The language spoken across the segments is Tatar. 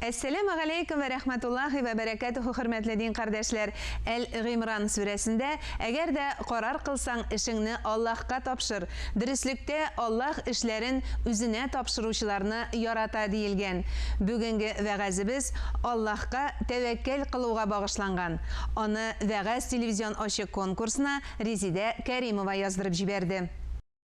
Әссәләмү галәйкүм вә рәхмәтуллаһи вә бәрәкәтүһү Хөрмәтле дин кардәшләр, Әл-Гыймран сүрәсендә, Әгәр дә карар кылсаң, эшеңне Аллаһка тапшыр. Дөреслектә Аллаһ эшләрен Үзенә тапшыручыларны ярата диелгән. Бүгенге вәгазебез Аллаһка тәвәккәл кылуга багышланган. Аны Вәгазь телевизион ачык конкурсына Резидә Кәримова яздырып җибәрде.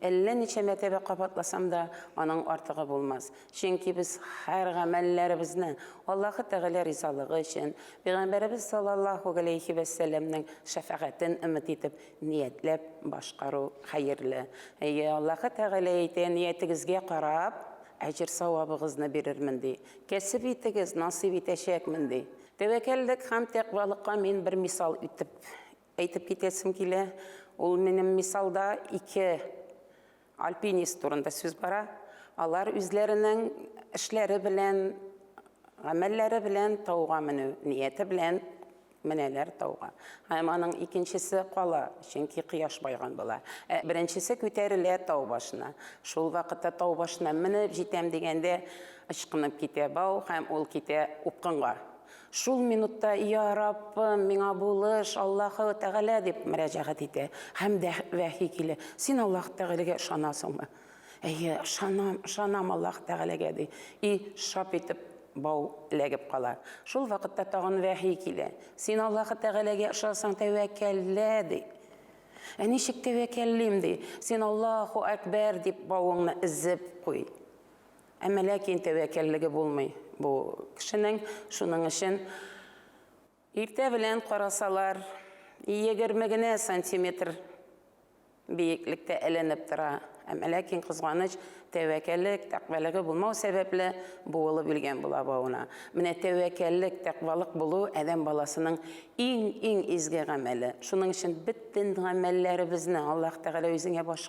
Әллә ничә мәртәбә кабатласам да, аның артыгы булмас. Чөнки без һәр гамәлләребезне Аллаһы Тәгалә ризалыгы өчен, Пәйгамбәребез саллаллаһу галәйһи вә сәлләмнең шәфәгатен өмет итеп ниятләп башкару хәерле. Әйе, Аллаһы Тәгалә әйтә, Ниятегезгә карап, әҗер-савабыгызны бирермен, ди. Кәсеп итегез, насыйп итәчәкмен, ди. Тәвәккәллек һәм тәкъвалыкка мин бер мисал итеп Әйтеп китәсем килә, ул минем мисалда ике альпинист турында сүз бара. Алар үзләренең эшләре белән, гамәлләре белән тауга менү нияте белән менәләр тауга. Һәм аның икенчесе кала, чөнки кояш байган була. Ә беренчесе күтәрелә тау башына. Шул вакытта тау башына менеп җитәм дигәндә, ычкынып китә бау һәм ул китә упкынга. Шул минутта, Йа Раббым, миңа булыш, Аллаһы Тәгалә, дип мөрәҗәгать итә. Һәм дә вәхи килә. Син Аллаһ Тәгаләгә ышанасыңмы? Әйе, ышанам, ышанам Аллаһ Тәгаләгә, ди. И шап итеп бау эләгеп кала. Шул вакытта тагын вәхи килә. Син Аллаһы Тәгаләгә ышансаң, тәвәккәллә, ди. Ә ничек тәвәккәллим, ди. Син Аллаһу Әкбәр дип бавыңны өзеп куй. Әмма ләкин тәвәккәллеге булмый бу кешенең, шуның өчен иртә белән карасалар, егерме генә сантиметр биеклектә эленеп тора. Әмма ләкин кызганыч, тәвәккәллек, тәкъвәлеге булмау сәбәпле буылып үлгән була бавына. Менә тәвәккәллек, тәкъвалык булу адәм баласының иң-иң изге гамәле. Шуның өчен бөтен гамәлләребезне Аллаһ Тәгалә үзеңә баш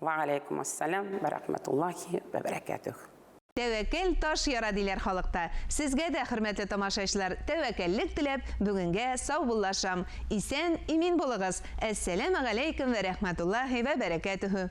Вә галәйкүм ас-сәлам вә рәхмәтуллаһи вә бәрәкәтүһ. Тәвәккәл таш яра диләр халыкта. Сезгә дә, хөрмәтле тамашачлар, тәвәккәллек теләп, бүгенгә саубуллашам. Исән, имин булыгыз! Әссәләмәгаләйкүм вә рәхмәтуллаһи вә бәрәкәтүһ.